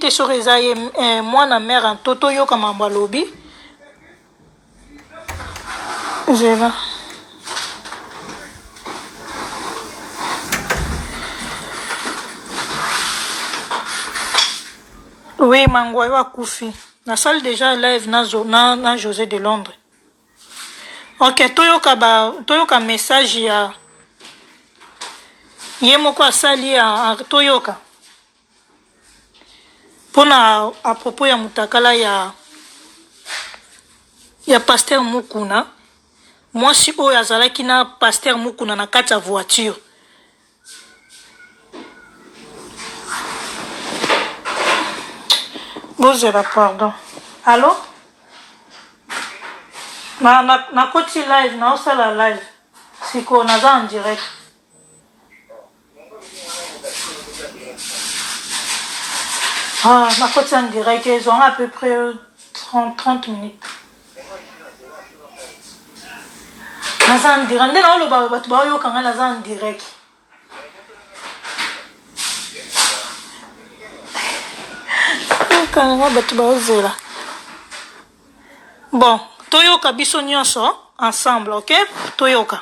te soki eza ye eh, mwana mare nto toyoka mambo alobi zela Oui, Mangwayo akufi. Na sali dejà live na zo na na Jose de Londres. Ok toyoka ba toyoka message ya ye moko asali ya toyoka pona a propos ya mutakala ya ya pasteur Mukuna mwasi oyo azalaki na pasteur Mukuna na kati ya voiture bozela pardon allo nakoti na, na live naosala live sikoyo naza en direct ah, nakoti en direct ezwanga à peu près 30, 30 minutes naza en direct nde naoloba bato baoyoka ngai naza en direct yokanga ngai bato baozela bon toyoka biso nyonso ensemble ok toyoka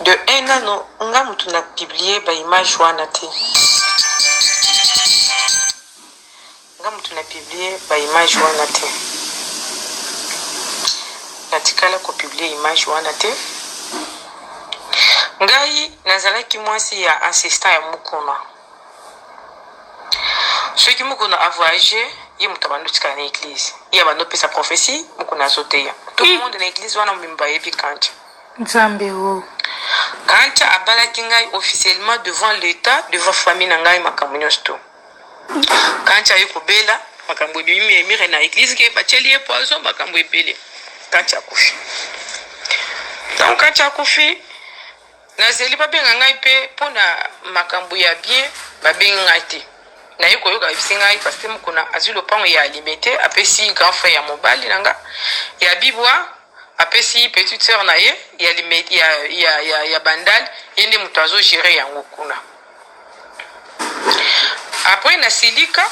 de un nano nga mutu na publie ba image wana te nga mutu na publie ba image wana te natikala kopublie image wana te ngai nazalaki mwasi ya assistant ya mukuna soki mukuna a voyage ye moto abandi otikala na eglise ye abandi opesa prophetie mukuna azoteya tout le monde na eglise wana mobimba bayebi kanca nzambe o oh. kanca abalaki ngai officiellement devant l'état devant famille na ngai makambo nyonso to kanca aye kobela makambo ebimi emire na eglise ke batieli ye poison makambo ebele kanca akufi donc kanca akufi Nazeli ba benga ngai pe pona makambu ya bien ba bengi ngai te naye koyoka balobisi ngai pasteur mukuna azui lopangu ya libete apesi grand frère ya mobali na nga ya bibwa apesi petite soeur na ye ya, lime, ya, ya, ya, ya bandal ye nde moto azo gere yango kuna apres nasilika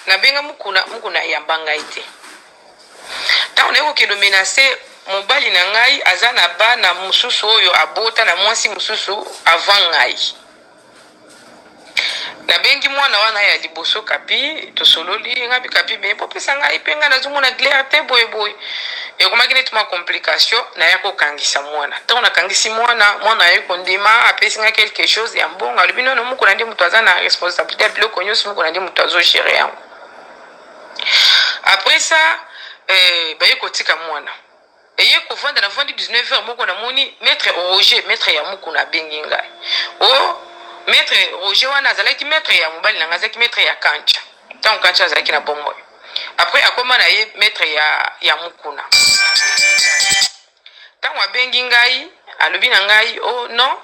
nabenga mukuna mukuna ayamba ngai te Ntango naye kokende omenase mobali na ngai aza na bana mosusu oyo abota na mwasi mosusu avant ngai nabengi mwana wana ya liboso kapi tosololi ngai mpe kapi me bopesa ngai mpe ngai nazomona glere te boyeboye ekomaki neti mwa complication naya kokangisa mwana ntango nakangisi mwana mwana aye kondima apesi ngai quelque chose ya mbongo alobi nono mokona nde moto aza na responsabilité ya biloko nyonso mokona nde moto azogere yango Après ça, euh, baye kotika mwana eye kovanda na vandi 19 heures moko namoni maître roger maître ya mukuna abengi ngai o oh, maître roger wana azalaki maître ya mobali na ngai azalaki maître ya kancha ntango kancha azalaki na bomoi après akoma na ye maître ya, ya mukuna Tango abengi ngai alobi na ngai oh non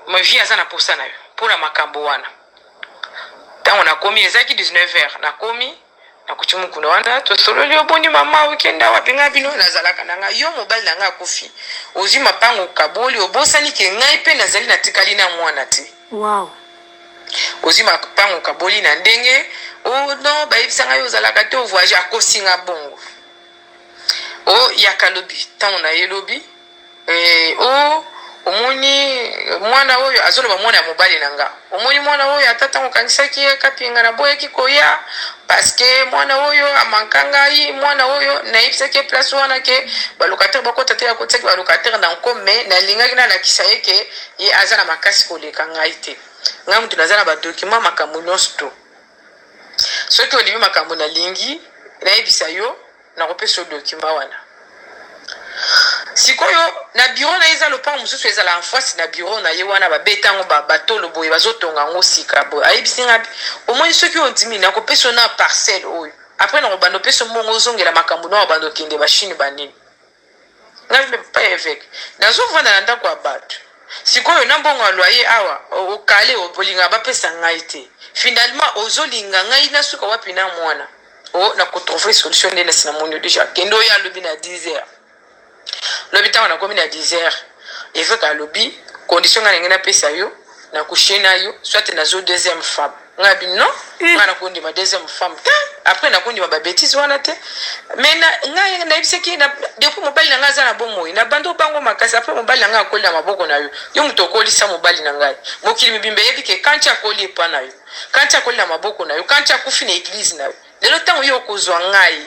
ma vie aza na posa na yo mpo na makambo wana. Tango nakomi ezalaki 19 heures nakomi nakuti mukuna wana tosololi oboni mama okenda wapi ngai bino nazalaka na ngai yo mobali na ngai akufi ozwi mapango okaboli obosani ke ngai mpe nazali natikali na mwana te wow. ozwi mapango okaboli na ndenge o oh, no bayebisa ngai ozalaka te ovoyage akosinga bongo Oh yaka lobi tango na ye lobi eh, oh omoni mwana oyo azoloba mwana ya mobali na nga omoni mwana oyo ata ntango okangisaki ye kapinga na boyaki koya paske mwana oyo amanka ngai mwana oyo nayebisaki ye place wana ke balocataire bakota te akotisaki balocataire na nko me nalingaki nalakisa ye ke ye aza na makasi koleka ngai te ngai moto naza na badokima makambo nyonso to Soki olingi makambo nalingi nayebisa yo, nakopesa yo document wana. Sikoyo na bureau na ye eza lopango mosusu ezala en face na bureau na ye wana babeta yango ba- batolo boye bazotonga yango sika boye ayebisi ngai ati, omoni soki ondimi nakopesa yo na parcelle oyo apres nakobanda opesa yo mbongo ozongela makambo na obanda okende bashine banini Ngai pa eveque nazo vanda na ndaku ya batu sikoyo na mbongo ya loyer awa o kale bolingaka ba pesa ngai te finalement ozo linga ngai na suka wapi na muana o na ko trouver solution nde nasi na moni yo dejà kende oya lobi na 10 heures lobi tango na komi na 10 heures eveque alobi condition ngai na ngai na pesa yo na coucher na yo soit nazo deuxième femme Nga bi non eh. nga nako ndima deuxième femme te après nako ndima ba bêtises wana te mais na nga na yebisaki na depuis mobali na nga aza na bomoi na bando bango makasi après mobali na nga akoli na maboko na yo yo moto okolisa mobali na ngai mokili mibimba eyebi ke kanti akoli epa na yo kanti akoli na maboko na yo kanti akufi na eglise na yo lelo ntango yo okozwa ngai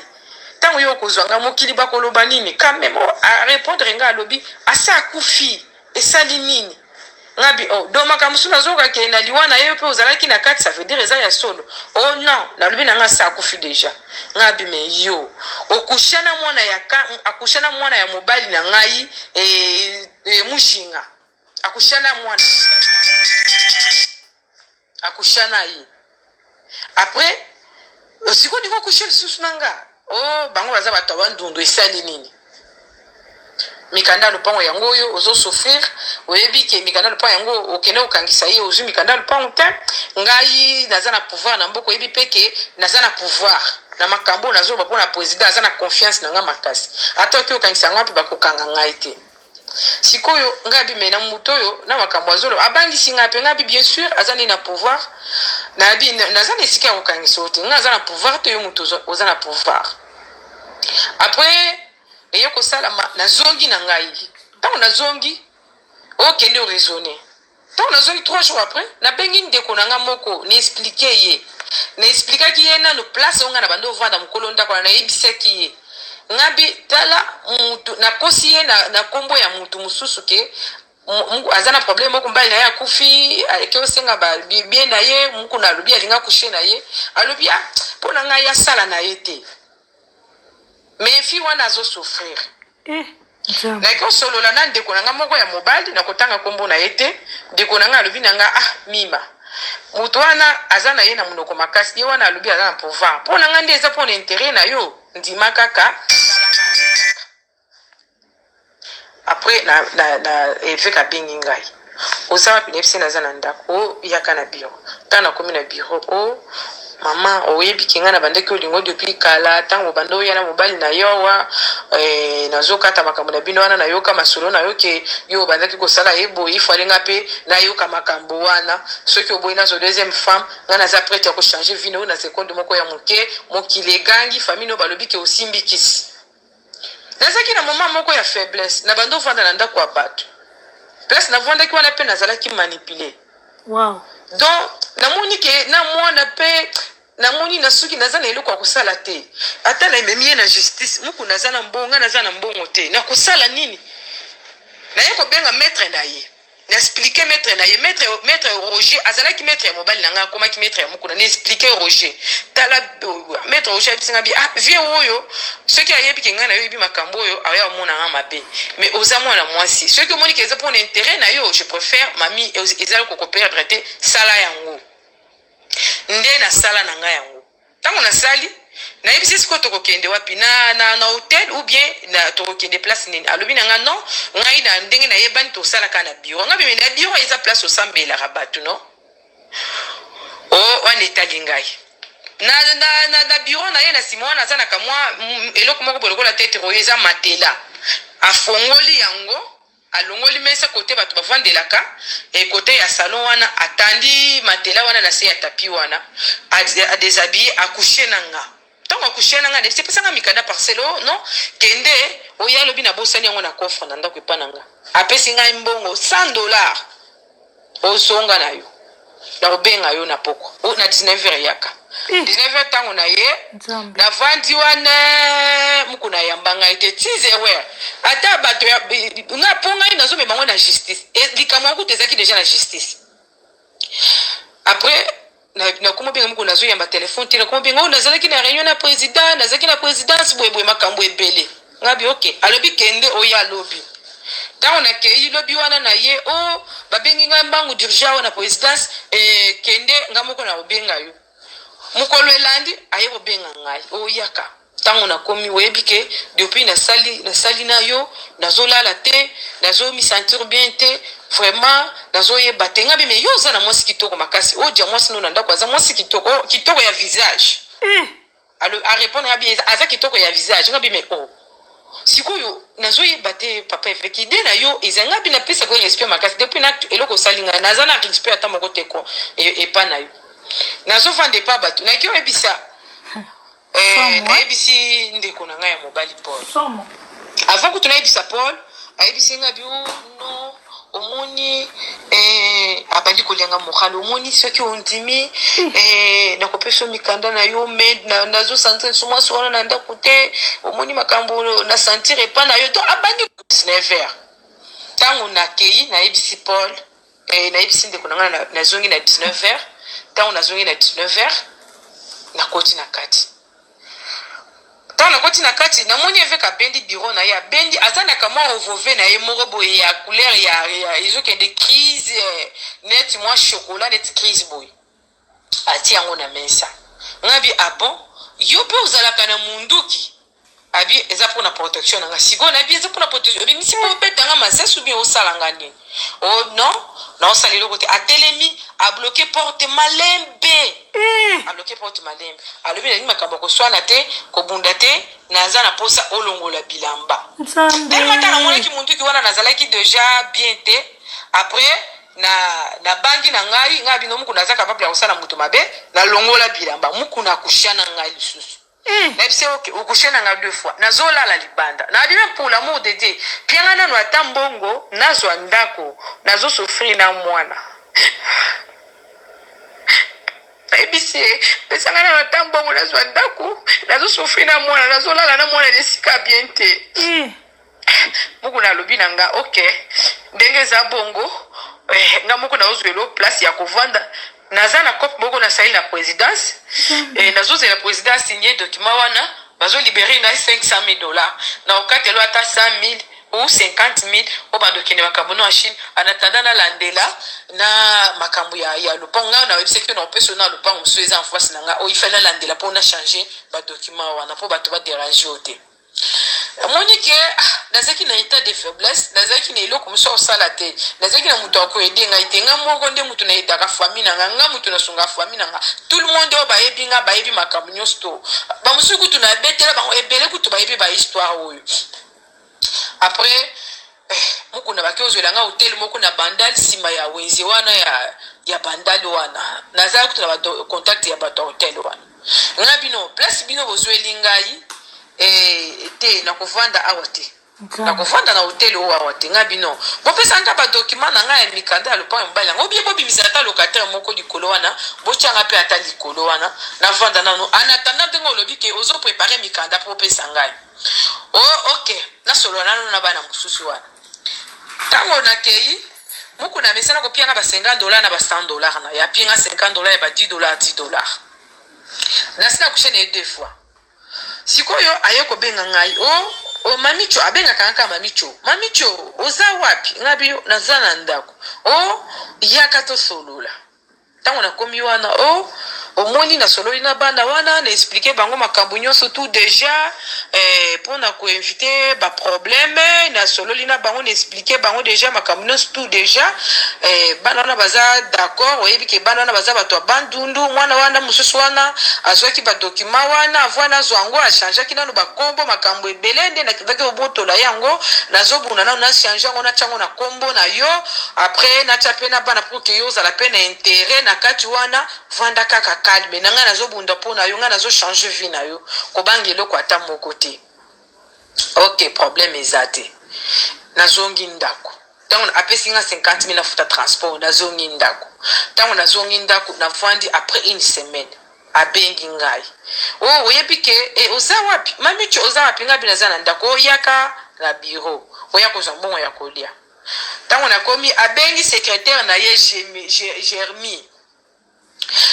ntango yo okozwa ngai mokili bakoloba nini quand même a répondre nga alobi asa akufi Esali nini? Ngabi oh do makambo mosusu nazoyoka ke na liwa na ye yo mpe ozalaki na kati ça veut dire eza ya solo oh non nalobi na nga asi akufi deja ngabi me yo okusha na mwana ya ka akusha na mwana ya mobali na ngai e, e, mujinga akusha na mwana Akusha na ye. Après, osiko ndiko kusha lisusu na nga. Oh, bango baza bato ya bandundu esali nini? mikanda ya lopango yango oyo ozo souffrir oyebi ke mikanda ya lopango yango okende kokangisa ye ozwi mikanda ya lopango te ngai naza na pouvoir na mboka oyebi mpe ke naza na pouvoir na makambo oyo nazoloba mpo na président aza na confiance na ngai makasi ata oki okangisa ngai mpe bakokanga ngai te sikoyo ngai abi me na moto oyo na makambo azolo abangisi ngai mpe ngai abi bien sûr aza nde na pouvoir nayebi naza na esika ya kokangisa yo te ngai aza na pouvoir te yo moto oza na pouvoir après eye kosalama nazongi na ngai ntango nazongi okende oraisonne ntango nazwaki trois jours après nabengi ndeko na nga moko na explike ye na explikaki ye nanu place oyo nga na bandi ovanda mokolo ndako wana nayebisaki ye ngabi tala mutu nakosi ye na, na kombo ya mutu mosusu ke aza na problème moko mbali na ye akufi aleki osenga bibie na ye mokuna alobi alinga kushe na ye alobi a ah, mpo na ngai asala na ye te mais fille wana azo souffrir eh, nayaki kosolola na ndeko na ngai moko ya mobali na kotanga nkombo na ye te ndeko na ngai alobi na ngai ah mima moto wana aza na ye na monoko makasi ye wana alobi aza na pouvoir mpo na ngai nde eza mpo na intere na yo ndima kaka Après na na na eveka abengi ngai oza wapi nayebisi naza na ndako o oh, yaka na biro ntango nakomi na biro o oh, mama oyebi ke ngai nabandaki olingo depuis kala ntango obanda oya na mobali na yo awa eh, nazokata makambo na bino wana nayoka masolo na yo ke yo obandaki kosala ye boye ifale ngai mpe nayoka makambo wana soki oboyi nazo deuxième femme ngai naza prete ya kochange vino na sekonde moko ya moke mokili egangi famille no balobi ke osimbikisi Nazalaki na moma moko ya faiblesse, na bandi ovanda na ndako ya bato. Place na vwandaki wana pe nazalaki manipule. Wow. Donc, namoni ke na mwana pe namoni na suki naza na eloko ya kosala te. Ata na ememi ye na justice, muku naza na mbongo, nga naza na mbongo te. Nakosala nini? Naye kobenga maître na ye. na expliquer maître na ye maître maître Roger azalaki maître ya mobali na ngai akomaki maître ya mukuna na expliquer Roger tala euh, maître Roger ayebisi ngai bi ah vieux oyo soki ayebi ke ngai na yo yebi makambo oyo aya omona ngai mabe mais oza mwana mwasi soki omoni ke eza mpona intérêt na yo je préfère mami ezali kokoperdre te sala yango nde nasala na ngai yango ntango nasali nayebisi sikoyo tokokende wapi na, na, na hotel ou bien na tokokende place nini alobi na nga non ngai na ndenge nayebani tosalaka na biro ngai meme na biro eza place osambelaka bato no o oh, wana etali ngai na, na, na, na biro na ye na nsima wana aza na kamwa eloko moko boye lokola tetre oyo eza matela afongoli yango Alongoli mesa kote bato bafandelaka, et kote ya salon wana atandi matelas wana na se ya tapis wana, a deshabiller, a coucher na nga. Tango a coucher na nga, Alexis pesa nga mikanda parcelle oyo, non, kende, oye, alobi nabosani yango na coffre na ndako epai na nga. Apesi ngai mbongo 100 dollars. ozonga na yo nakobenga yo na pokwa o na 19 heure yaka 19 eh. heure ntango na ye navandi wana moko nayamba ngai te ti zero heure ata bato nga mpo ngai nazomema yango na justice e, likambo yango kuta ezalaki deja na justice après nakoma obenga moko nazoyamba telefone te nakoma obenga oyo oh, nazalaki na réunion na président nazalaki na présidence boyeboye makambo ebele ngabi oke alobi kende oya lobi ntango nakei lobi wana na ye o oh, babengi ngai mbangu dirigea oyo na présidence e, kende ngai moko nakobenga yo mokolo elandi aye kobenga ngai oyaka oh, Tango na komi oyebi ke depuis na sali na sali na yo nazo lala te nazo mi sentir bien te vraiment nazo yeba te nga bi mais yo oza na mwasi kitoko makasi o dia mwasi no na ndako aza mwasi kitoko oh, kitoko ya visage mm. alors a répondre nga bi aza kitoko ya visage nga bi mais oh sikoyo nazoyeba te papa eveki ide na yo ezali ngai mpe napesa ko respect makasi depuis na eloko osali ngai naza na respect ata moko te ko e, epa na yo nazofanda epa bato nayaki oyebisa Eh, nayebisi ndeko na ngai ya mobali paul avant kutu nayebisa paul ayebisi ngai bio no omoni eh, abandi kolenga mokalo omoni soki ondimi hmm. eh, nakopesa mikanda na yo me nazosanza nso mwasi wana na ndako te omoni makambo na sentire epa na yo to abandi 19 heure ntango nakei nayebisi paul Eh, nayebisi ndeko na ngai na- nazongi na 19 heures ntango nazongi na 19 heures nakoti na kati ntango nakoti na kati namoni eveke abendi biro na ye abendi aza na kamwa ovove na ye moko boye ya couleur ya, ya ezokende crise eh, neti mwa chocolat neti crise boye atie yango na mesa nga bi ah bon yo pe ozalaka na munduki abi eza mpo na protection na nga sikoyo nayebi eza mpo na protection obimisi mpo obeta nga masasi obi osala nga nini o oh, non naosala eloko te atelemi abloke porte malembe eh. abloke porte malembe alobi nalingi makambo ya koswana te kobunda te naza na mposa olongola bilamba telema ntango amonaki monduki wana nazalaki deja bien te après Na na bangi na ngai ngai bino mukuna aza capable ya kosala moto mabe na longola bilamba mukuna akusha na ngai lisusu eh. na bise ok okushe na ngai deux fois nazo lala libanda na bime pour l'amour de Dieu pia ngai nanu ata mbongo nazwa ndako nazo souffrir na mwana nayebisi ye pesa ngai nanu ata mbongo nazwa ndako nazo souffrir na mwana nazo lala na mwana na esika bien te eh. mukuna alobi na nga ok ndenge eza bongo eh, nga moko naozwelo place ya kovanda naza na cope moko nasali na présidence eh, nazozela président asigne document wana bazolibere ngai 500 000 dollars na okatelo ata 100 000 ou 50 000 oyo bandokende makambo no ya chine anatanda nalandela na makambo ya, ya lopango ngai nayebisaki na opeso na lopango mosusu eza en face na ngai oyo ifali nalandela mpo na change badocument wana mpo bato baderange yo te Namoni ke ah, nazalaki na etat de faiblesse, nazalaki na eloko mosusu kosala te, nazalaki na moto akoede ngai te, ngai moko nde moto naedaka famille na ngai, ngai moto nasungaka famille na ngai, tout le monde oyo bayebi ngai bayebi makambo nyonso to bamosusu kutu nabetela bango ebele kutu bayebi bahistoire oyo après Eh mukuna bake ozuela nga hotel moko na bandal sima ya wenze wana ya ya bandal wana naza kutu na ba contact ya bato ya hotel wana nga bino place bino bozueli ngai eh, te nakovanda awa te nakovanda na hotel oyo awa te nga bino bopesa nga badokima na ngai ya mikanda ya lopango ya mobali yango obie bobimisa ata locataire moko likolo wana botyanga mpe ata likolo wana navanda nano anatanda ndenge olobi ke ozoprepare mikanda mpo opesa ngai Oh, ok, nasolola nanu na bana mosusu wana. Tango nakeyi, mukuna amesana kopia nga ba 50 dollars na ba 100 dollars na ye. Apie nga 50 dollars ya ba 10 dollars, 10 dollars. Nasi nakushe na ye deux fois. Sikoyo aye kobenga ngai, oh, oh mamicho, abengaka nga kaka mamicho. Mamicho, oza wapi? Nga bi, naza na ndako. Oh, yaka tosolola. Tango na komi wana oh omoni na sololi na bana wana na explique bango makambo nyonso tout deja eh, pona ko invite ba problème na sololi na bango na explique bango deja makambo nyonso tout deja eh, bana wana baza d'accord oyebi ke bana wana baza bato ya bandundu mwana wana mosusu wana azwaki badokima wana avua nazwa yango achangeaki nano bakombo makambo ebele nde nakendaki obotola yango nazobuna nano na change yango natya yango na kombo na yo après natya mpe na bana que yo ozala pe na interet na kati wana vanda kaka calme na ngai nazo bunda po na yo ngai nazo changer vie na yo kobanga eloko ata moko te ok problème eza te nazongi ndako ntango apesi nga 50 mille afuta transport nazongi ndako ntango nazongi ndako navandi après une semaine abengi ngai o oh, oyebi ke e, oza wapi mamicho oza wapi ngai bino aza na ndako oyaka na biro oya kozwa mbongo ya kolia Tango na komi abengi secretaire na ye Jermie.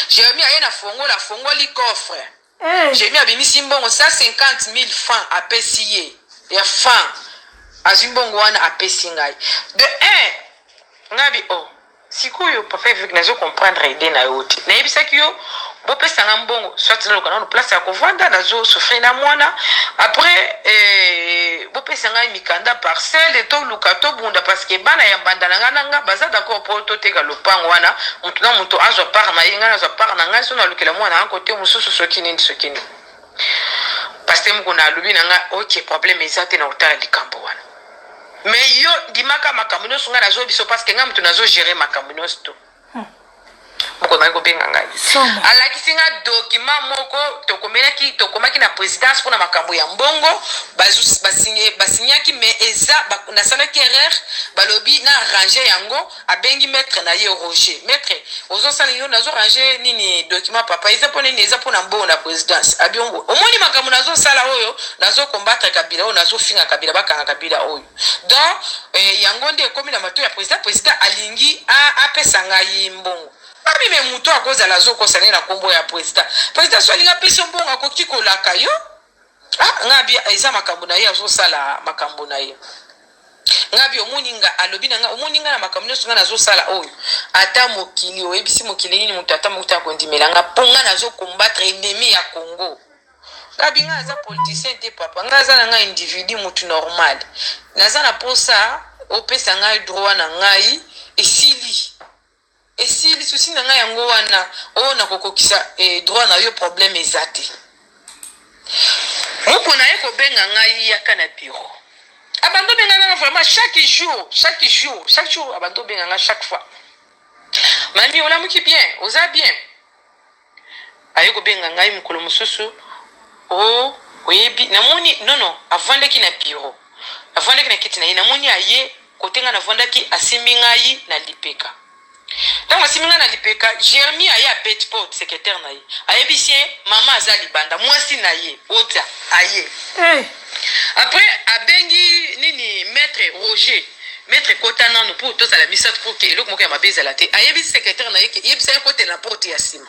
Jermie aye na fongola afongoli coffre. Eh. Jermie abimisi mbongo 150000 francs apesi ye ya francs. Azwi mbongo wana apesi ngai. De un ngai bi oh Sikoyo papa eveque nazo comprendre idee na yo te nayebisaki yo bopesa nga mbongo soit naluka nanu place ya kovanda nazo souffrir na muana après eh, bopesa ngai mikanda parcelle toluka tobunda parce que bana ya mbanda na ngai na nga baza d'accord po toteka lopango wana mutu na mutu azwa part na ye ngai nazwa part na ngai so nalukela mwana yango kote mosusu soki nini soki nini paste mokuna alobi na ngai ok problème eza te na kotala likambo wana Mais yo ndimaka makambo nyonso ngai nazo biso parce que ngai moto nazo gérer makambo nyonso to bokomaki kobenga ngai alakisi nga dokima moko tokomelaki tokomaki na présidence mpona makambo ya mbongo basignaki mais eza nasalaki erreur balobi na arrange yango Abengi maitre na ye Roger. Maitre ozo sala nini oyo nazo range nini document papa eza pona nini eza pona mbongo na presidence abiongo omoni makambo nazo sala oyo nazo combattre kabila oyo nazo finga kabila bakanga kabila oyo donc eh, yango nde ekomi na mato ya president president alingi a apesa ngai mbongo ami me moto akozala azokosa nde na kombo ya president president so alingi apesa yo mbongo akoki kolaka yo ah nga bi eza makambo na ye azosala makambo na ye nga bi omoni nga alobi na nga omoni nga na makambo nyonso nga nazosala oyo ata mokili oyebisi mokili nini moto ata mokuta ya kondimela nga mpo nga nazokombatre enemi ya congo nga bi nga aza politicien te papa nga aza na nga individu motu normal naza na mposa opesa ngai droit na ngai esili Esili souci na nga yango wana oh na kokokisa eh, droit na yo problème eza te. Moko na ye kobenga ngai yaka na bureau. Abando ah, benga nga vraiment chaque jour, chaque jour, chaque jour abando ah, benga nga chaque fois. Mami olamuki bien, oza bien. Aye kobenga ngai mokolo mosusu, Oh, oyebi, namoni, non, non, avandaki na biro, avandaki na kiti na ye, namoni aye kote ngai navandaki, asimbi ngai na lipeka. Ntango asimbi ngai na lipeka, Jeremy aye abeti porte, secretaire na ye ayebisi ye, Mama aza libanda, mwasi na ye, Oda, aye. Eh! Après abengi nini maitre Roger maitre kota nanu pour tozala misatu pour que eloko moko ya mabe ezala te ayebisi secretaire na ye ke yebisa ye akotela na porte ya nsima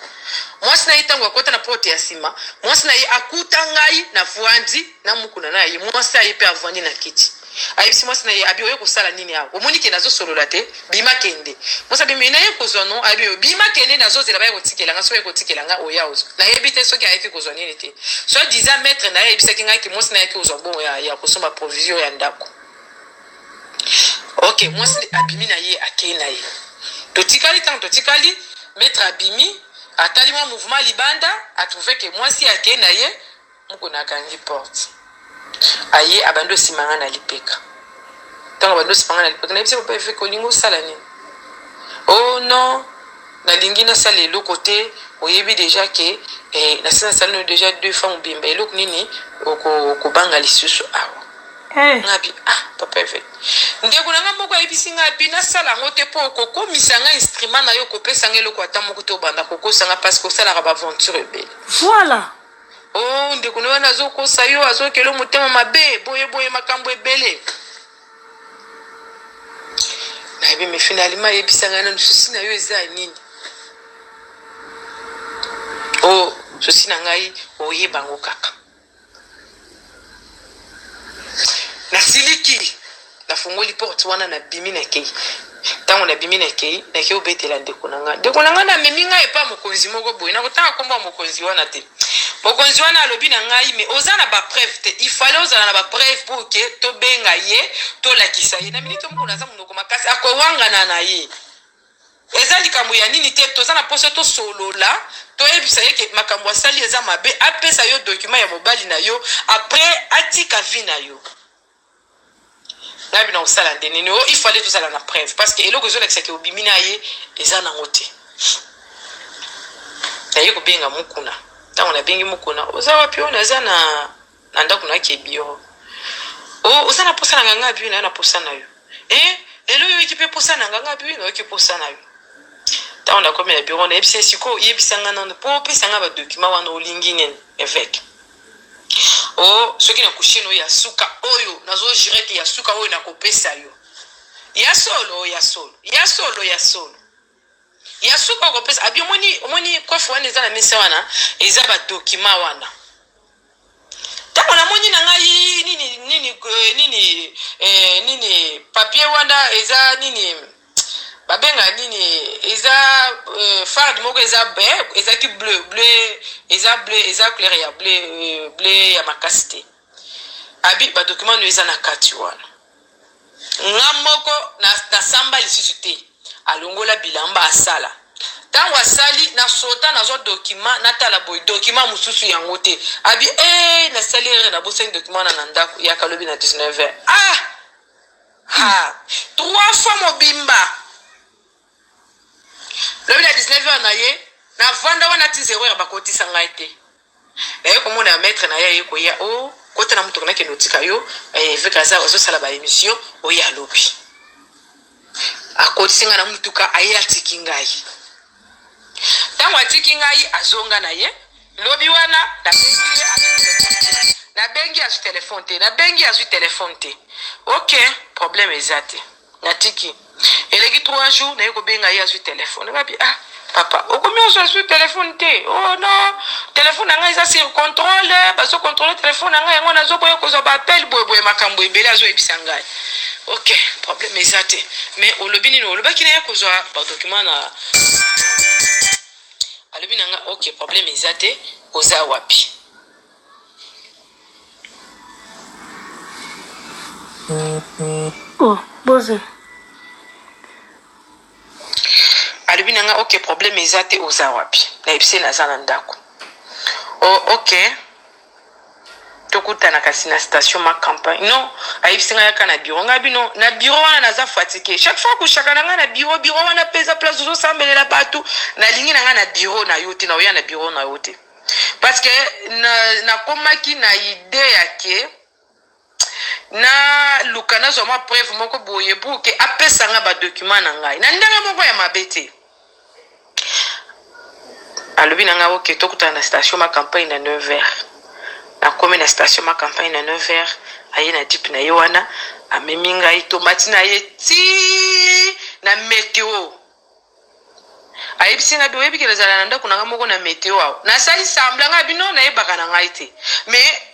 mwasi na ye ntango akota na porte ya nsima mwasi na ye akuta ngai navwandi na mukuna na ye mwasi aye mpe avwandi na kiti ayebisi mwasi na ye abi oye kosala nini awa omoni ke nazosolola te Bima kende. Mwasi abimi, naye kozwa no. Ayebi yo. Bima kende nazozela baye kotikela nga. Soki baye kotikela nga oya ozwa. Nayebi te soki ayaki kozwa nini te. Soit disant maitre naye ayebisaki nga ke mwasi naye ayaki kozwa mbongo ya ya kosomba provision ya ndako. Ok mwasi abimi naye akei naye. Totikali tango totikali maitre abimi atali mwa mouvement libanda a trouve ke mwasi akei naye. Mukuna akangi porte aye abandi osimba nga na lipeka tango abandi osimba nga na lipeka nayebisi papa eveke olingi osala nini oh non nalingi nasala eloko te oyebi deja ke eh, nasi nasali no deja deux fois mobimba eloko nini okobanga oko lisusu awa hey. Eh. ngabi ah papa eveke ndeko na nga moko ayebisi nga bi nasala yango te mpo okokomisa nga instrument na yo okopesa nga eloko ata moko te obanda kokosa nga parce que osalaka baaventure ebele voilà Oh ndeko na wana azokosa yo azokelo motema mabe boye boye makambo ebele nayebi mifina alima ayebisa ngai nanu susi na yo eza ya nini o oh, susi na ngai oyeba yango kaka nasiliki nafungoli porte wana nabimi nakei ntango nabimi nakei nakei obetela ndeko na ngai ndeko na ngai namemi ngai epa mokonzi moko boye nakotanga nkombo ya mokonzi wana te mokonzi wana alobi na ngai me oza na bapreuve te ifale ozala na bapreuve mpo oke tobenga ye tolakisa ye na miniti omokolo aza monoko makasi akowangana na ye Eza likambo ya nini te toza na posa tosolola toyebisa ye ke makambo asali eza mabe apesa yo document ya mobali na yo après atika vie na yo nayebi na kosala nde nini o il fallait tozala na preuve parce que eloko ezolakisa ke obimi na ye eza nango te naye kobenga mukuna ntango nabengi mukuna oza wapi oyo naza na na ndako na ke biro o oh, oza na posa na nga nga biwi na na posa na yo e eh, lelo oyoki mpe posa na nga nga biwi na oyoki posa na yo ntango nakomi na biro nayebisa sikoyo oyebisa nga nano mpo opesa nga badokima wana olingi nini eveke o oh, soki na kushino ya suka oyo nazojire te ya suka oyo nakopesa yo ya solo ya solo ya solo ya solo ya suka okopesa abi omoni omoni coiffe wana eza na mesa wana eza ba document wana ntango namoni na ngai nini nini eh, nini eh, nini papier wana eza nini babenga nini eza eh, farde moko eza be ezalaki bleu bleu eza bleu eza couleur ya bleu eh, bleu ya makasi te abi badokima no eza na kati wana Nga moko na na samba lisusu te alongola bilamba asala tangu asali na sota nazwa document natala boye document mususu yango te abi ee nasali erreur nabosani document wana na ndaku yaka lobi na 19 heures ah ha trois fois mobimba Lobi na 19 heures na ye na vanda wana ti 0 heure bakotisa ngai te naye komona ya maître na ye aye koya o oh, kota na motuka nakende otika yo eh, eveke aza azosala ba émission oye alobi akotisi ngai na motuka aye atiki ngai ntango atiki ngai azonga na ye lobi wana nabengi azwi telefone te nabengi azwi telefone te ok problème eza te natiki eleki trois jours naye kobenga ye azwi telefone ngabi ah papa okomi ozo azwi telefone te o oh, no telefone na ngai eza sur contrôle bazo contrôle telefone na ngai yango nazoboya kozwa baappel boyeboye makambo ebele azoyebisa ngai ok problème eza te mais olobi nini olobaki na ye kozwa badokima na alobi na ngai ok problème eza te oza wapi Oh, boze. alobi na nga ok problème eza te oza wapi nayebisi ye naza na ndako o oh, ok tokutana kasi na station ma campagne non ayebisi nga yaka na biro ngai bino na biro wana naza fatike chaque fois kushaka na ngai na biro biro wana mpe eza place ozosambelela bato nalingi na ngai na biro na yo te na oya na biro na yo te parce que nakomaki na, na idee ya ke naluka nazwa mwa preuve moko boye pour ke apesa nga badocument na ngai na ndenge moko ya mabe te alobi na ngai oke tokutana na station ma campagne na 9 heures nakomi na station ma campagne na 9 heures aye na dipe na ye wana amemi ngai tomati na ye ti na meteo ayebisi nga boyebi ke nazala na ndako na nga moko na meteo awa nasali sambla nga bino nayebaka na ngai te mais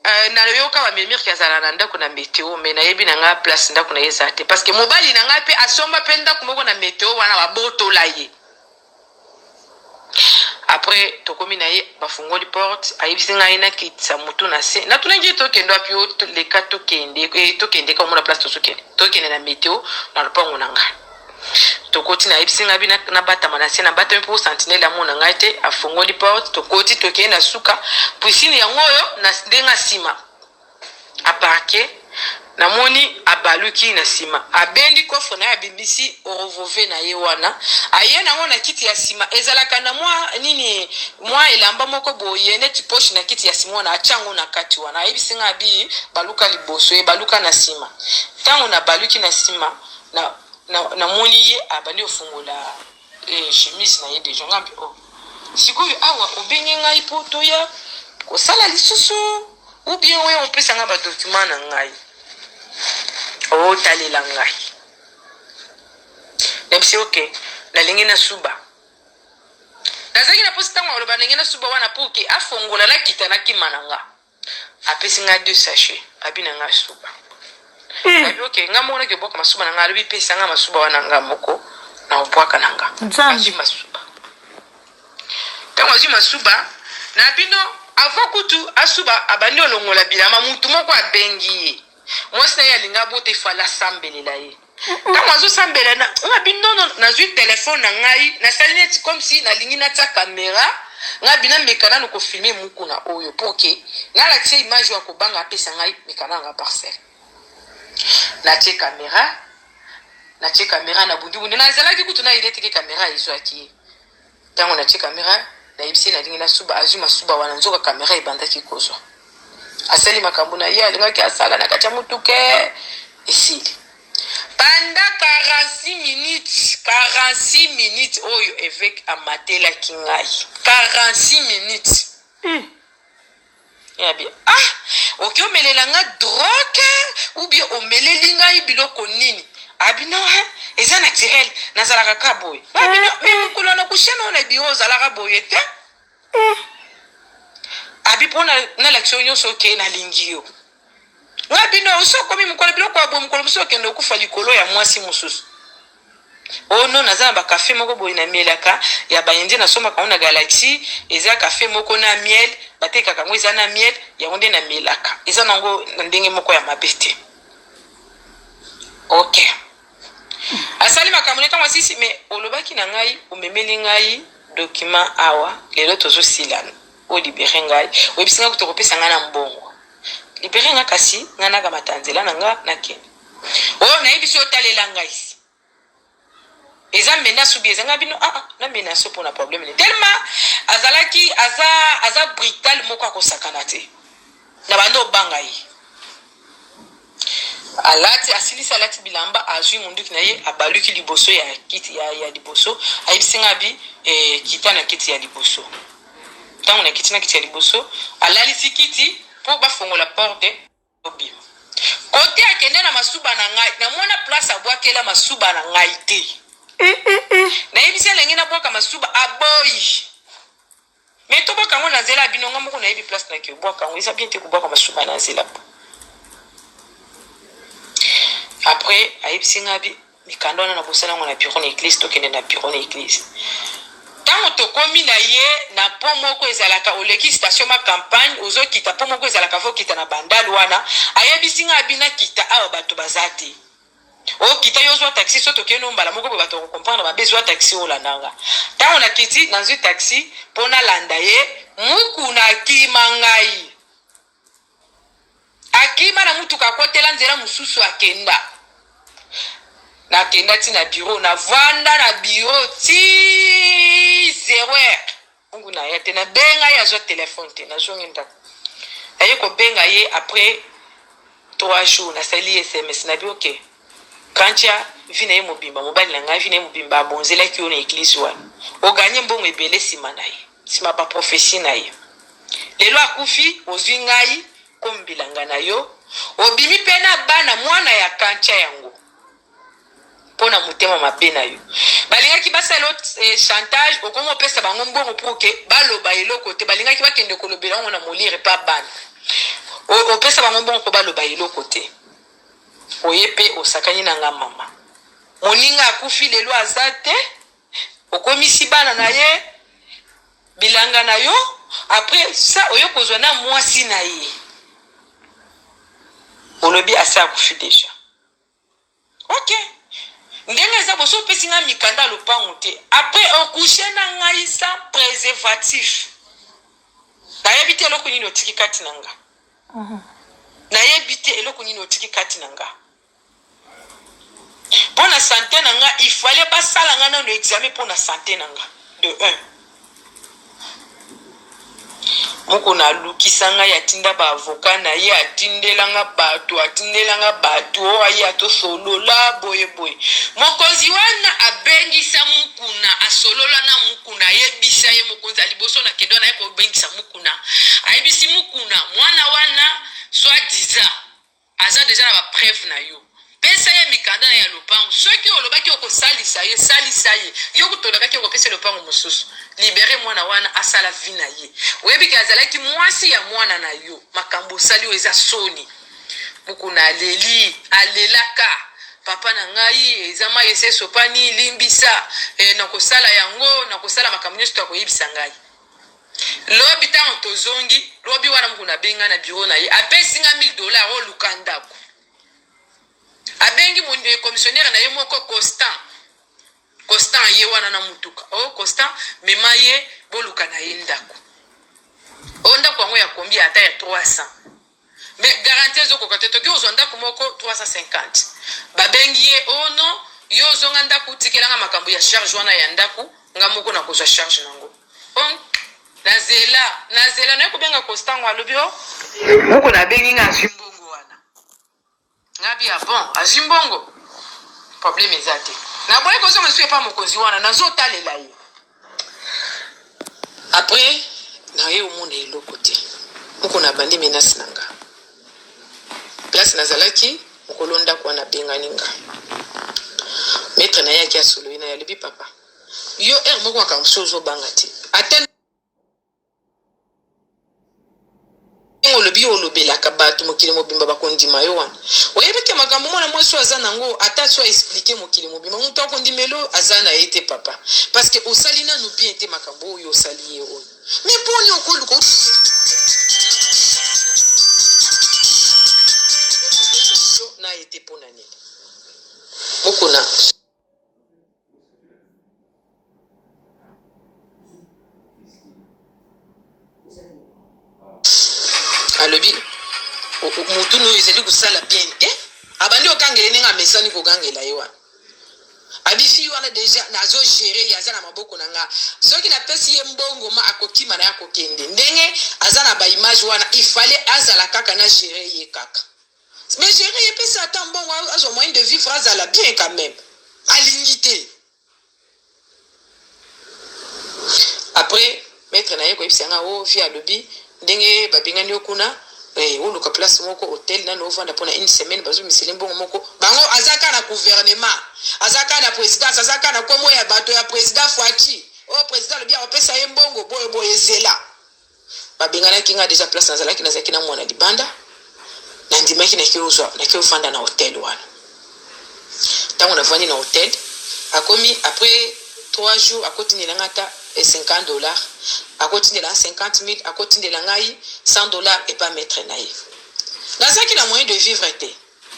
Uh, nayoka bamemir ke azala na ndako na meteo me nayebi na ngai place ndako na ye eza te parce que mobali na ngai mpe asomba mpe ndako moko na meteo wana babotola ye après tokomi na ye bafungoli porte ayebisi ngai nakitisa motu na se natunaki ye tokende wapi yo leka tokende eh, tokende ka omona place tozokende tokende na meteo na lopango na ngai tokoti nayebisi ngai bina nabatama na se nabatami mpo sentinele amona ngai te afungoli porte tokoti tokei na suka puisine yango oyo na ndenge nsima a parke na moni abaluki na sima abendi coffre naye abimisi orovove na ye wana aye nango na kiti ya sima ezalaka na mwa nini mwa elamba moko boye neti poche na kiti ya sima wana atia yango na kati wana ayebisi nga abi baluka liboso ye baluka na sima ntango na baluki na sima na, na, na moni ye abandi ofungola Eh chemise na ye deja nga mpe oh. Sikoyo awa obengi ngai mpo toya kosala lisusu ou bien oya opesa ngai badocument na ngai otalela oh, ngai nabisi oke nalingi nasuba nazalaki na mposi ntango aloba ndenge nasuba wana mpo oke afongola nakita nakima na ngai apesi nga deux sachet abi na nga suba eh. abi oke nga moko naki obwaka masuba na nga alobi pesa nga masuba wana nga moko na obwaka na nga azwi masuba ntango azwi masuba na bino avant kutu asuba abandi olongola bilama mutu moko abengi ye Mwasi na ye alingi abota il fallait asambelela ye. Ntango azosambela na nga bi non non nazwi telephone na ngai nasali neti comme si nalingi natia camera nga bi nameka nanu ko filmer mukuna oyo pour que nalakisa ye image oyo akobanga apesa ngai meka na nga parcelle. Natie camera natie camera nabundi bundi nazalaki kutu nayebi te ke camera ezwaki ye. ntango natie kamera nayebisi nalingi nasuba azwi masuba wana nzoka kamera ebandaki kozwa asali makambo na ye alingaki asala na kati ya motuke esili banda 46 minutes 46 minutes oyo eveke amatelaki ngai 46 minutes mm. ya bi ah oki omelela nga drogue ou bien omeleli ngai biloko nini abino ah, he eza naturel nazalaka ka boye abino ah, me mokolo na kushana oyo na biro ozalaka boye te abi mpo nalakisa yo nyonso oke nalingi yo nga bino oso okomi mokolo biloko ya boye mokolo mosusu okende okufa likolo ya mwasi mosusu ono oh, no naza na bakafe moko boye namelaka ya baindien nasombaka yango na galaxie eza kafe moko na miel batekaka yango eza na miel yango nde namelaka eza nango na ndenge moko ya mabe te ok asali makambo ne ntango asisi me olobaki na ngai omemeli ngai dokima awa lelo tozosilana O libere ngai, oyebisi ngai kutu okopesa ngai na mbongo. Libere ngai kasi, ngai nakamata nzela na ngai nakende. O nayebisi yo otalela ngai. Eza menace ou bien eza ngai bino ah, ah na menace mpo na problème ne tellement azalaki aza aza brutal moko akosakana te na bando obanga ye Alati, asilisi alati bilamba, azui munduki na ye, abaluki liboso ya kiti ya, ya liboso, ayebisi ngai abi, eh, kita na kiti ya liboso. Ntango nakiti na kiti ya liboso, alalisi kiti mpo bafongola porte, tobima. Kote akende na masuba na ngai, namona place abwakela masuba na ngai te. Nayebisi elenge nabwaka masuba, aboyi. Mais to bwaka yango na nzela ya bino nga moko nayebi place na ke bwaka yango eza bien te kobwaka masuba na nzela après ayebisi nga mikanda wana nakosala yango na bureau na eglise tokende na bureau na eglise ntango tokomi na ye na po moko ezalaka oleki station ma campagne ozokita po moko ezalaka fokita na bandal wana ayebisi nga abi nakita awa bato baza te okita yo ozwa taxi so tokei no mbala moko boye bato bakokomprendre mabe zwa taxi olanda nga ntango nakiti nazwi taxi mpo nalanda ye mukuna akima ngai akima na motuka akotela nzela mosusu akenda nakenda ti na biro navanda na biro ti zero heure ntango na ya te nabenga ye azwa telefone te nazongi ndako naye kobenga ye après trois jours nasali ye sms nabi oke kantia vi na ye mobimba mobali na ngai vi na ye mobimba abonzelaki yo na eglize wana oganye mbongo ebele nsima na ye nsima baprofesi na ye lelo akufi ozwi ngai kombilanga na yo obimi mpe na bana mwana ya kantia yango pona motema mabe na yo balingaki basala eh, chantage okomi opesa bango mbongo pour ke baloba eloko te balingaki bakende kolobela yango na molire pa bana opesa bango mbongo mpo baloba eloko te oye mpe osakani na nga mama moninga akufi lelo aza te okomisi bana na ye bilanga na yo apres sa oye kozwa na mwasi na ye olobi asi akufi deja Ok. Ndenge eza boso opesi nga mikanda ya lopangu te après o couche na ngai sans preservatif. Nayebi te eloko nini otiki kati na nga. Nayebi te eloko nini otiki kati na nga. Pona sante na nga il fallait basala nga nanu examen pona sante na nga de un. Mukuna alukisa ngai atinda ba avocat na ye atindela nga bato atindela nga bato oyo aya tosolola boye boye mokonzi wana abengisa mukuna asolola na mukuna ayebisa ye mokonzi ya liboso na kendo na ye kobengisa mukuna ayebisi mukuna mwana wana soit disant Aza dejà na ba preuve na yo. Pesa ye mikanda naye ya lopango. Soki olobaki okosalisa ye, salisa ye. Yo kutu olobaki okopesa ye lopango mosusu. Liberer mwana wana asala vie na ye. Oyebi ke azalaki mwasi ya mwana na yo. Makambo osali oyo eza soni. Mukuna aleli, alelaka. Papa na ngai, eza mayi esi esopani, limbisa. Eh, nakosala yango, nakosala makambo nionso to akoyebisa ngai. Lobi tango tozongi, lobi wana mukuna abengi nga na bureau na ye, apesi nga 1000 dollars oyo luka ndako. Abengi mon eh, commissionnaire na ye moko Constant. Constant ye wana na mutuka. Oh Constant, mema ye boluka na ye ndako. Oh ndako yango ya kombi ata ya 300. Mais garantie ezo koka te toki ozwa ndaku moko 350 ba bengi ye oh non yo ozwa nga ndaku tikela nga makambo ya charge wana ya ndaku nga moko na kozwa charge na ngo oh na zela na zela na ye kobenga kostango alobi oh moko na bengi nga azwi mbongo wana Ngabi ah bon azwi mbongo problème eza te naboyi kozonga lisusu epa mokonzi wana nazotalela ye après naye omona eloko te moko nabandi menasi na nga place nazalaki mokolo ndako wana abengani nga maître na ye aki asoloyi na ye alobi papa yo heure moko makambo so ozobanga te ata ndenge olobi yo olobelaka bato mokili mobimba bakondima yo wana oyebi te makambo mwana mwasi oyo aza nango ata so aexplike mokili mobimba moto akondimelo aza na ye te papa parceke osali nanu bien te makambo oyo osali ye oyo me boni okoluka na ye te mpo na nini mokona alobi motu oyo ezali kosala bien te eh? abandi okangela ndenge amesani kogangela ye wana abisi wana deja nazo gere ye aza na maboko na nga soki napesi ye mbongo ma akokima na ye akokende ndenge aza na baimage wana ifale azala kaka na gere ye kaka Mais gerer ye pesa ata mbongo azwa moyen de vivre azala bien quand même. Alingi te. Après maître na ye koyebisa nga oh vie alobi ndenge babengani yo kuna eh, oluka place moko hotel nano ovanda mpo na une semaine bazomisele mbongo moko bango aza kaka na gouvernement aza kaka na présidence aza kaka na nkombo ya bato ya président fati oyo oh, président alobi akopesa ye mbongo boye boye ezela Babenganaki ngai dejà place nazalaki, nazalaki na mwana libanda, nandimaki nake ozwa nake ofanda na hotel wana. Tango navandi na hotel, akomi après 3 jours akotindela ngai ata 50 dollars, akotindela ngai 50 mille, akotindela ngai 100 dollars epa maitre na ye. Nazalaki na moyen de vivre te.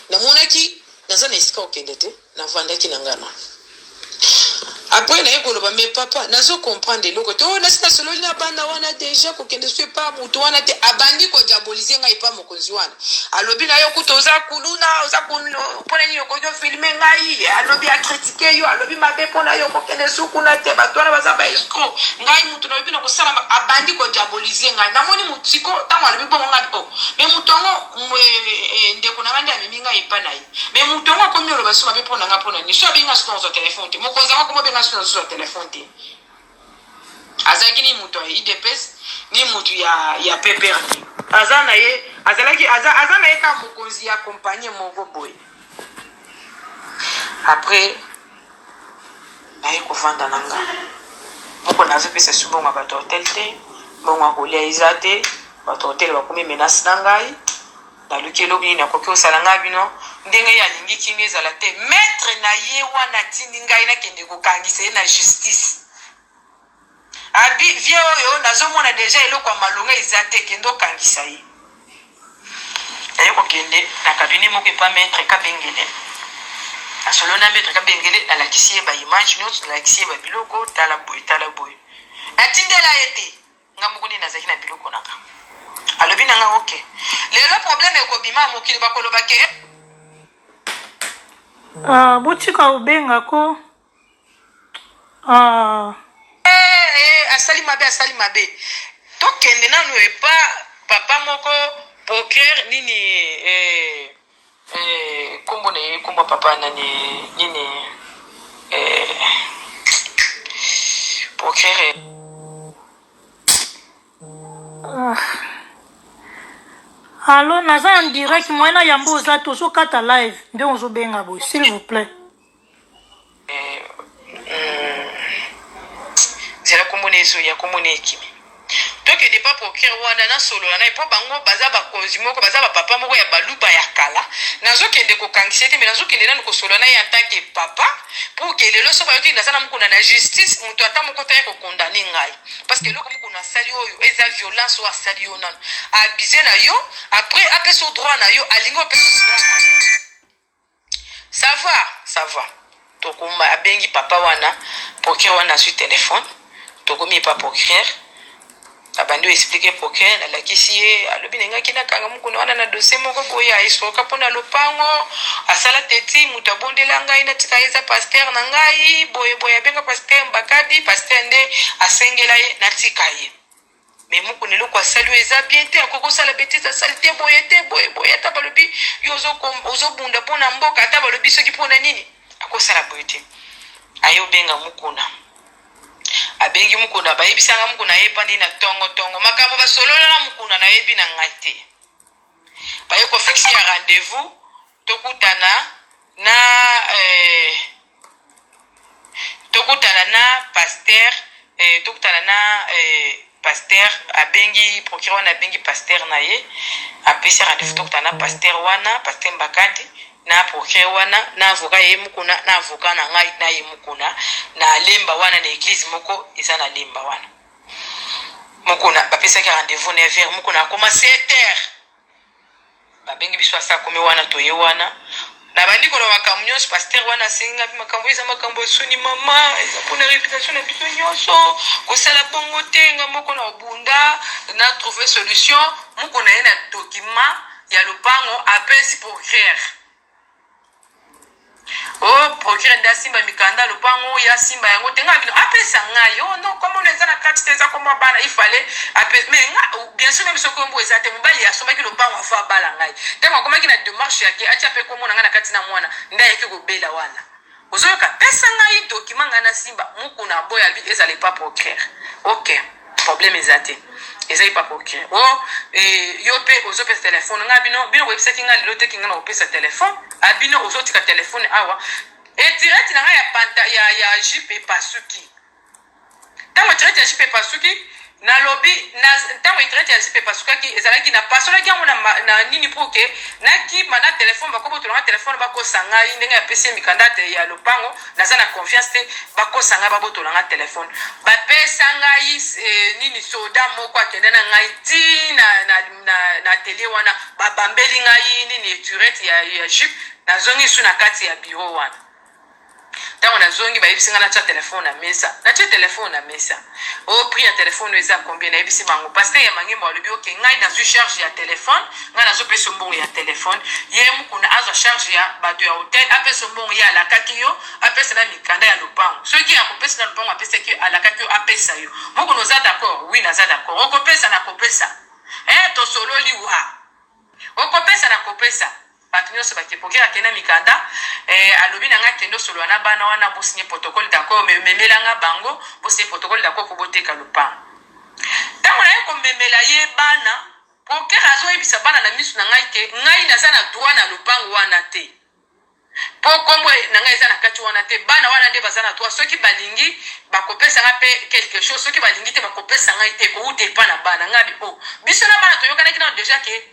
Namonaki naza na esika okende te, navandaki na ngai na apres naye koloba me papa nazo comprendre eloko te oyo oh, nasi nasololi na bana wana deja kokende so epa moto wana te abandi kodiabolize ngai epa mokonzi wana alobi na yo kuta oza kuluna oza mpona nini okoki ofilme ngai alobi akritike yo alobi mabe mpona yo kokende su kuna te bato wana baza baescro ngai moto nalobi na kosala abandi kodiabolize ngai namoni motiko ntango alobi bongo ngai o oh, me moto yango Eh, ndeko na nga nde amemi ngai epa na ye me moto yango akomi oloba so mabe mpo na nga mpo na nini so abenga soki ozwa telefone te mokonzi yango akoma benga soki nazozwa telefone te azalaki ni moto ya idps ni moto ya, ya pepr te aza na ye azalaki aza, aza na ye kaka mokonzi ya kompanie moko boye après naye kovanda na nga moko nazopesa esu mbongo ya bato ya hotel te mbongo ya kolia eza te bato ya hotel bakomi menase na ngai naluki eloko nini akoki kosala ngai bino ndenge ye alingi kinga ezala te maitre na ye wana atindi ngai nakende kokangisa ye na justice Abi vieux oyo nazo mona dejà eloko ya malonga eza te kende okangisa ye. Naye kokende na cabinet moko epa maitre kabengele nasolo na maitre kabengele nalakisi ye ba image nyonso nalakisi ye ba biloko tala boye tala boye natindela ye te nga moko nde nazalaki na biloko na nga alobi na nga ok lelo problème ekobima ya mokili bakoloba ke ah, botika obenga ko Ah. Eh, eh, asali mabe asali mabe tokende nanu epa papa moko procureur nini eh, eh, kombo na ye kombo papa nani nini eh, procureur eh. ah. alo naza en direct moyen na yambo oza te ozokata live nde ozobenga boye s'il vous plaît zela kombo na ezo ya kombo na ekimi tokende pa procureur wana nasolola naye mpo bango baza bakonzi moko baza bapapa moko ya baluba ya kala nazokende kokangisa ete me nazokende nanu kosolola naye atanke papa pour ke lelo so bayoki naza na mokuna na justice moto ata moko taya kokondane ngai parce que eloko mokuna asali oyo eza violence oyo asali yo nanu abuse na yo après apesa yo droit na yo alingi opesa droit na yo Ça va ça va tokoma abengi papa wana procureur wana azwi telephone tokomi epa procureur abandi o explique procureur nalakisi ye alobi nengaki nakanga mokuna wana na dossier moko boye aesroka mpo na lopango asala teti moto abondela ngai natika ye eza paster na ngai boye boye abenga paster mbakadi paster nde asengela ye natika ye Mais mukuna eloko asali oyo eza bien te akoki kosala betise asali te boye te boye boye ata balobi yo ozobunda mpo na mboka ata balobi soki mpo na nini akosala boye te aye obenga mukuna abengi mukuna bayebisanga mukuna ayepani na tongo tongo makambo basolola na mukuna nayebi na ngai te Baye ko fixe ya rendez-vous tokutana na eh, tokutana na pasteur eh, tokutana na eh, pasteur abengi procureur wana abengi pasteur na ye apesi rendez-vous tokutana na pasteur wana pasteur Mbakadi na procureur wana na avocat ye mukuna na avocat na ngai na ye mukuna na lemba wana na eglise moko eza na lemba wana Mukuna bapesaki rendez-vous neuf heures Mukuna akoma sept heures babengi biso asa akomi wana toye wana nabandi koloba makambo nyonso pasteur wana asengi ngai mpe makambo eza makambo ya soni mama eza mpona reputation na biso nyonso kosala bongo te nga moko na obunda na trouve solution moko na ye na document ya lopango apesi pour guerre Oh, procureur nde asimba mikanda ya lopango oyo asimba yango te ngai bino apesa ngai oh non comme on eza na kati te eza komwa bana il fallait apesa mais nga oh, bien sûr même soki ombo eza te mobali asombaki lopango afo abala ngai ntango akomaki na demarche yake atia mpe komona ngai na kati na mwana nde ayaki kobela wana Ozo yoka pesa ngai document ngai na simba mukuna aboya alobi ezala epa procureur ok problème eza te eza epa procureur o oh, eh, yo pe ozo pesa telephone ngai bino bino boyebisaki ngai lelo te kinga na kopesa telephone abino ozo tika telephone awa etireti na ngai ya panta ya ya jupe epasuki Ntango etirete ya jipe epasuki, nalobi, na, ntango etirete ya jipe epasukaki, ezalaki, napasolaki yango na, na nini, pour que nakima na telefone, bakobotola nga telefone, bakosa ngai, ndenge napesi ye mikanda ya lopango, naza na confiance te, bakosa ngai, babotola nga telefone, bapesa ngai eh, nini, soda moko akende na ngai ti na, na, na, na atelier wana, babambeli ngai nini, etirete ya, ya jipe, nazongi su na kati ya bureau wana. ntango nazongi bayebisi ngai natya telefone na mesa natya telefone na mesa o oh, prix ya telefone oyo eza combien nayebisi bango paster ya mangembo alobi oke ngai nazwi charge ya telefone ngai nazopesa mbongo ya telefone ye mokuna azwa charge ya bato ya hotel apesa mbongo ye alakaki yo apesa na mikanda ya lopango soki akopesa na lopango apesaki yo alakaki yo apesa yo mokuna oza d'accord wi naza d'accord okopesa nakopesa e eh, tosololi wa okopesa nakopesa Bato nionso bake pokera kende na mikanda eh, alobi na nga kende osolola na bana wana bosinye protocole d'accord mais memela nga bango bosinye protocole d'accord po boteka lopango ntango naye komemela ye bana prokere azoyebisa bana na miso na ngai ke ngai naza na droit na lopango wana te mpo nkombo na ngai eza na kati wana te bana wana nde baza na droit soki balingi bakopesa ngai mpe quelque chose soki balingi te bakopesa ngai te kouta epa na bana ngai bi o oh, biso na bana toyokanaki nano deja ke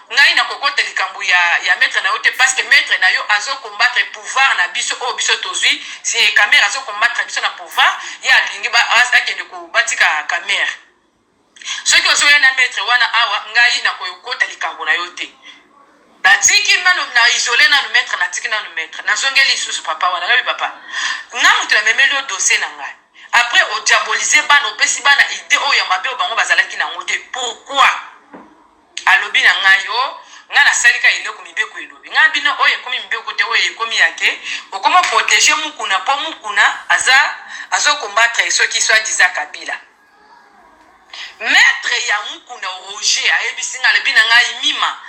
Ngai na kokota likambo ya ya maitre na yo te parce que maitre na yo azo combattre pouvoir na biso oyo biso tozwi si kamere azo combattre biso na pouvoir ye alingi ba akende ko batika kamere soki ozoya na maitre wana awa ngai na kokota likambo na yo te natiki nanu na isole nanu maitre natiki nanu maitre nazongeli lisusu papa wana nabi papa nga moto namemeli yo dossier na ngai après odiabolise bana opesi bana idée oyo ya mabe oyo bango bazalaki na yango te pourquoi Alobi na ngai, Oh, ngai nasali ka eloko mibeko elobi. Ngai na bino, oyo ekomi mibeko te, oyo ekomi ya ke, okomo proteger mukuna po mukuna aza, azo combattre soki soit disant Kabila. Maitre ya mukuna Roger ayebisi ngai, alobi na ngai, Mima,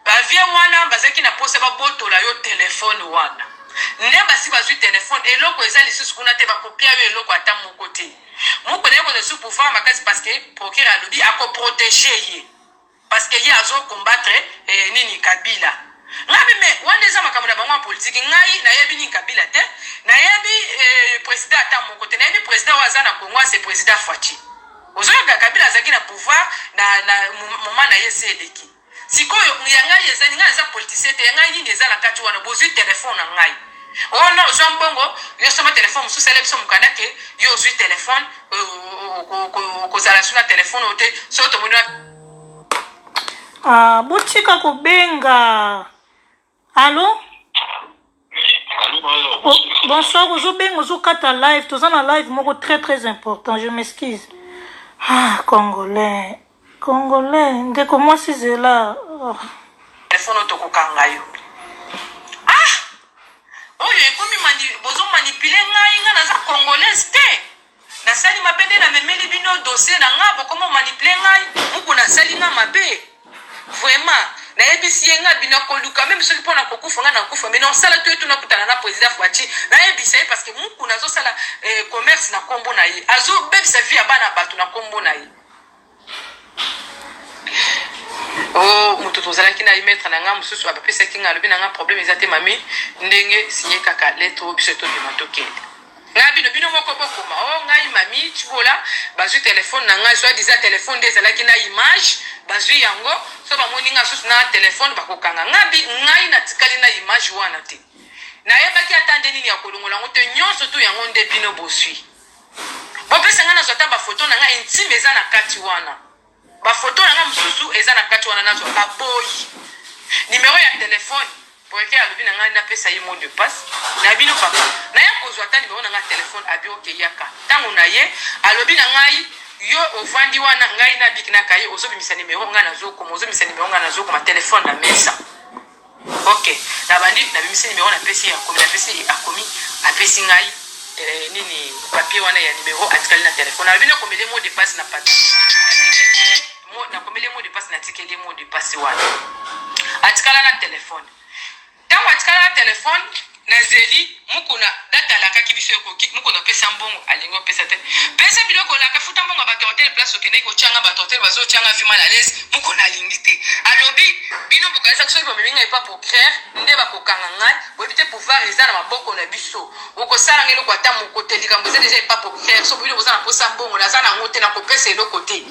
ba vieux wana bazalaki na posa babotola yo telephone wana. Ne basi bazui telephone, eloko eza lisusu kuna te, bakopia yo eloko ata moko te. Mukuna yoko le sous pouvoir makasi parce que procureur alobi ako protéger ye parce que ye azo combattre eh, nini Kabila ngabi me wana eza makambo na bango ya politiki ngai nayebi nini kabila te nayebi eh, president ata moko te nayebi president oyo aza na congo ase president faci ozoyoka kabila azalaki na pouvoir na, na moma na ye se eleki Sikoyo ya ngai eza ngai naza politicien te ya ngai nini eza na kati wana bozui telephone na ngai oh non ozwa mbongo yo soma telephone mosusu sala biso mokanda ke yo ozwi telephone okozala su na telephone oyo te soki tomoni ah, botika kobenga Allô oh, Bonsoir, ozobenga ozokata live, toza na live moko très très important, je m'excuse. Ah, congolais. Congolais, ndeko mwasi zela. Oh. Telefono tokokanga yo. Ah! Oyo ekomi mani bozo manipuler ngai, ngai naza congolaise te. Na sali mabe nde na memeli bino dossier na nga bokomo manipuler ngai mukuna asali nga mabe vraiment na yebisi ye nga bino akoluka meme soki pona kokufa nga na kufa mais na osala to etu na kutana na president Fatshi na yebisa ye parce que mukuna azosala eh, commerce na kombo na ye azo bebisa vie ya bana bato na kombo na ye Oh, moto tozalaki na ye maître na ngai mosusu apesaki ngai alobi na ngai problème eza te mami ndenge siye kaka lettre oyo biso tobima tokende ngai bino bino moko bokoma o oh, ngai mami tibola bazwi telefone na ngai soit disa telefone nde ezalaki na image bazwi yango so bamoni ngai susu na telefone bakokanga ngai ngai natikali na image wana te nayebaki ata nde nini ya kolongola yango te nyonso tu yango nde bino boswi Bopesa nga nazwa ata ba photo na nga intime eza na kati wana ba photo na nga mususu eza na kati wana nazwa ba boyi numero ya telephone Boyeke alobi na ngai napesa ye mot de passe na bino papa naya kozwa ata nimero na ngai ya telefone abi oke yaka ntango na ye alobi na ngai yo ovandi wana ngai nabiki naka ye ozobimisa nimero ngai nazokoma ozobimisa nimero ngai nazokoma telefone na mesa ok na bandi na bimisi numero na pesi akomi na pesi akomi apesi ngai eh, nini papier wana ya numero atikali na telefone alobi nakomele mo depasse na papier nakomele mo depasse natikeli mo depasse wana atikala na telefone ntango atikala na telefone Na zeli mukuna date alakaki biso ekoki mukuna pesa mbongo alingi opesa te pesa biloko olaka futa mbongo ya batu hotel place okendeki kotia nga batu hotel bazo tia nga vie mal à l'aise mukuna alingi te alobi bino bokanisaki soki bomemi nga epa procureur nde bakokanga ngai boyebi te pouvoir eza na maboko na biso bokosala nga eloko ata moko te likambo eza deja epa procureur so bino boza na posa mbongo naza na yango te nakopesa eloko te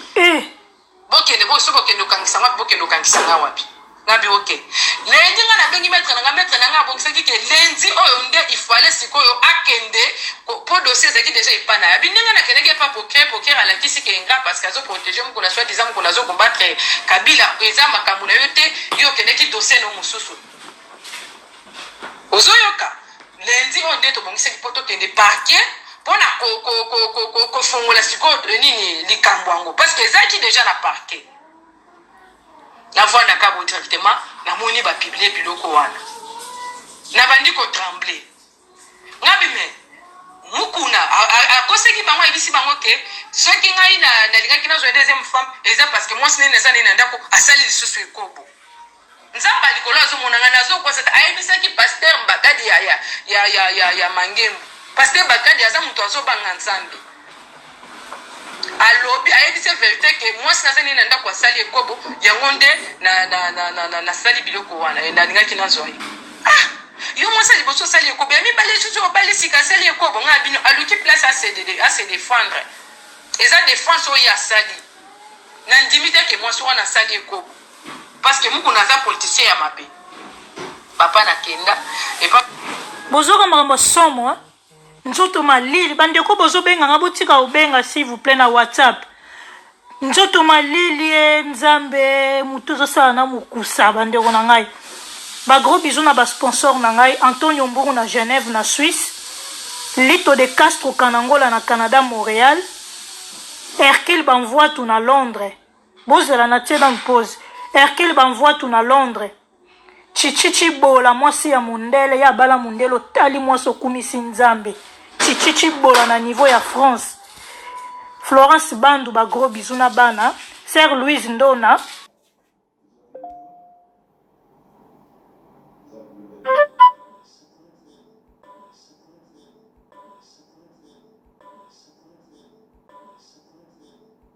Bokende bo soki bokende kokangisa nga bokende kokangisa nga wapi? nga biro te lendi nga nabengi maître na nga maître na nga abongisaki ke lendi oyo nde ifale sikoyo akende mpo dossier ezalaki deja epa na yabi ndenge nakendaki epa poker poker alakisi ke nga parce que azoprotege mokolo soit disant mokolo azokombatre kabila eza makambo na yo te yo okendaki dossier no mosusu ozoyoka lundi oyo nde tobongisaki mpo tokende parquet mpona kofongola sikoyo nini likambo yango parce que ezalaki deja na parquet na voi na kabo directement namoni bapiblie biloko wana nabandi kotremble ngabi me mukuna akoseki bango ayebisi bango ke soki ngai nalingaki nazwa deuxième femme eza parce que mwasi nene eza nene na ndako asali lisusu ekobo Nzambe ya likolo azo mona nga nazo kosa te ayebisaki pasteur mbagadi ya ya ya ya ya, ya mangembo pasteur mbagadi aza moto azo banga Nzambe alobi ayebisi ye verite ke mwasi naza nini na ndako asali ekobo yango nde nasali biloko wana eh, nalingaki nazwa ye ah yo mwasi ya liboso osali ekobo ya mibale susu obali sika asali ekobo ngai bino aluki place ase defendre eza defense oyo asali nandimi te ke mwasi wana asali ekobo Parce que mukuna aza politicien ya mabe. Papa na kenda epa Bozoka makambo ya somo hein? nzoto malili bandeko bozobenga nga botika kobenga s'il vous plaît na whatsapp nzoto malili e nzambe motu ezosala na mokusa bandeko na ngai bagros bisou na basponsor na ngai antonio mburu na genève na suisse lito de castro kanangola na canada montréal hercule banvoitu na londres Bozela na tie nanu pose. Hercule Bamvuatu na Londres. Chichi Chibola mwasi ya mundele ya bala mundele otali mwasi okumisi nzambe. Chichi Chibola na niveau ya France. Florence Bandu ba gros bisous na bana. Sœur Louise Ndona.